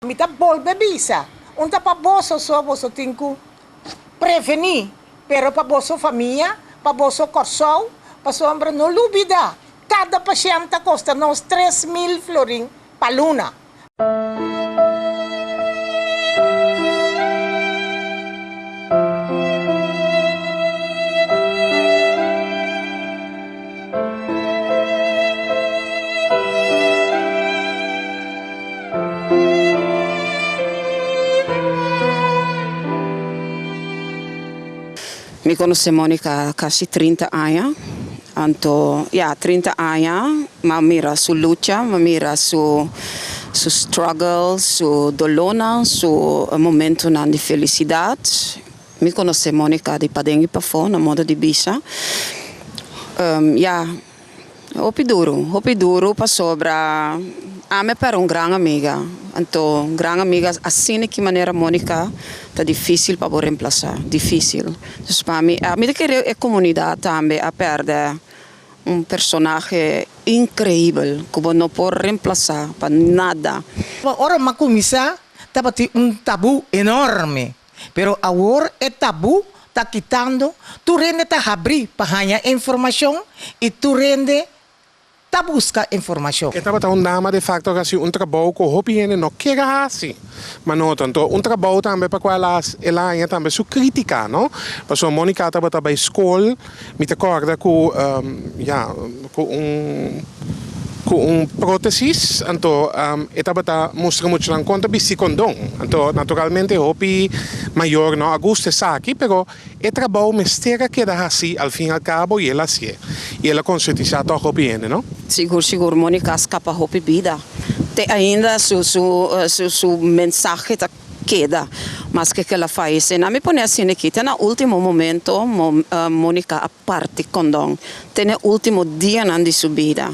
Mi ta bolbe bisa, un ta pa boso so boso tin cu preveni, pero pa boso famia, pa boso Corsou, pasobra no lubida cada pashent ta costa nos tres mil florin pa luna. Mi conoce Monica casi trinta aña, anto ya trinta aña, ma mira su lucha, ma mira su su struggle, su dolornan, su momentonan di felicidad, Mi conoce Monica di paden y pafo na modo di bisha. Ya, hopi duro, hopi duro pasobra Ame perde un gran amiga. Anto un gran amiga asina ki manera Monica ta dificil pa bo remplaza, dificil. Dus pa mi, mi ta kere e comunidad tambe a perde un personahe increibel cu bo no por remplaza pa nada. Ora macuminsa tabatin un tabu enorme. Pero awor e tabú ta kitando, tur hende ta habrí pa haña e informashon i tur hende ta buska e informashon. E tabata un dama de facto ku a hasi un trabou ku hopi hende no kier a hasi, ma noto anto un trabou tambe pa kua el a haña tambe su krítika, no? Pasobra Monica tabata bai skol. Mi ta corda cu ya cu un cu un protesis anto e tabata mustra muchanan con ta bisti condon anto naturalmente hopi mayor no a gusta esaki pero e trabao mester a keda haci al fin al cabo y el a haci'e y el a concientisa toc hopi hende no. Sigur sigur Monica a scapa hopi bida te ainda su su su su mensahe ta. keda, maske ke el a fayesé. Na mi pone asina aki, te na último momento Monica a parti kondon, te na e último dianan di su bida.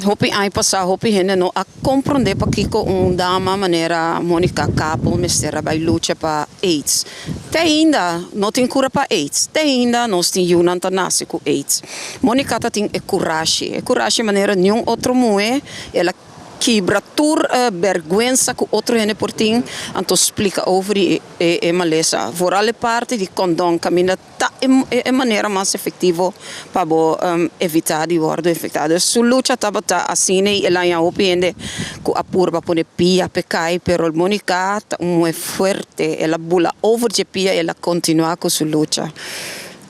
Hopi aña pasá hopi hende no a komprondé pakiko un dama manera Monica Kappel mester a bai lucha pa aids. Te ainda no tin kura pa aids, te ainda nos tin yunan ta nase ku aids. Monica ta tin e kurashi, e kurashi manera niun otro muhé, el a. Kibra tur e bèrgwensa ku otro hende por tin, anto splika over di e malesa. Vooral e parti di kondon kaminda ta e manera mas efektivo pa bo evitá di wòrdu infektá. Dor su lucha tabata asina i el a haña hopi hende ku a purba pone pia p'e kai, pero Monica ta un muhé fuerte. El a bula over dje pia i el a kontinuá ku su lucha.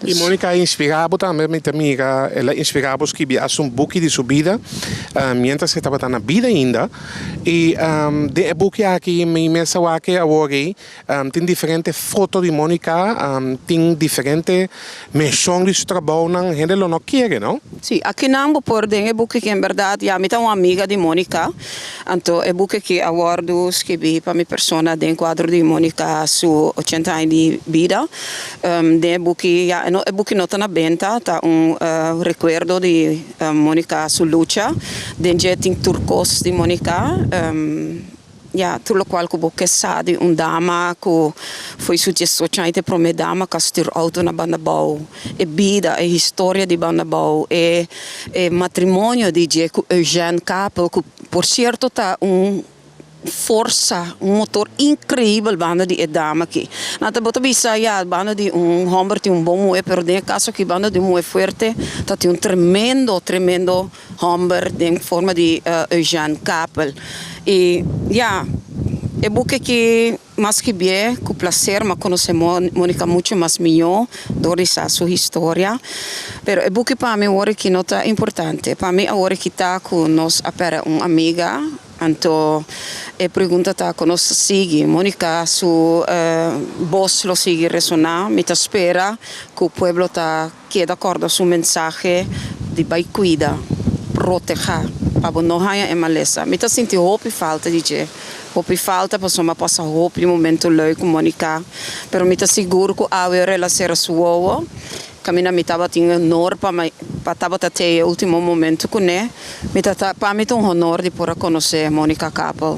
Y Monica a inspira bo tambe, mi ta mira el a inspira bo skibi hasta un buki di su bida mientras e tabata na bida ainda. Y den e buki aki mi mester a wak e awor ei tin diferente foto di Monica, tin diferente menshon di su trabounan, hende lo no kere no. Si, akinan bo por den e buki ki en berdad ya mi ta un amiga di Monica. Anto e buki ki a wòrdu skirbí pa mi persona den kuadro di Monica su ochenta aña di bida. Den e buki, ya e no e buki no ta na benta, ta un rekuerdo di Monica su lucha. Den dje tin tur kos di Monica, ya tur lokual ku bo ke sa di un dama ku fo'i su diesocho aña ta e promé dama ku a stuur outo na Bandabou. E bida, e historia di banda bou e e matrimonio di dje ku Eugène Capel, ku por sierto ta un forsa, un motor inkreibel banda di e dama aki. Na ta bo ta bisa, ya, banda di un hòmber tin un bon muhé, pero den e kaso aki banda di un muhé fuerte ta tin un tremendo, tremendo hòmber den forma di Eugène Capel. I ya, e buki aki. Mas ki bie ku plaser m'a konosé Monica muchu mas mihó dor di sa su historia. Pero e buki pa mi wor aki no ta importante. Pa mi awor aki ta ku nos a pèrdè un amiga. Anto e pregunta ta kon nos ta sigui Monica su bos lo sigui resoná. Mi ta spera ku pueblo ta. Keda kòrda su mensahe di bai kuida, protehá, pa bo no haña e malesa. Mi ta sinti hopi falta di dje. Hopi falta pasobra mi a pasa hopi momentu lèu ku Moniká. Pero mi ta sigur ku awe ora el a sera su wowo, kaminda mi tabatin e honor pa mi pa tabata tei e último momentu kuné. Mi ta ta pa mi ta un honor di por a konosé Monika Kappel.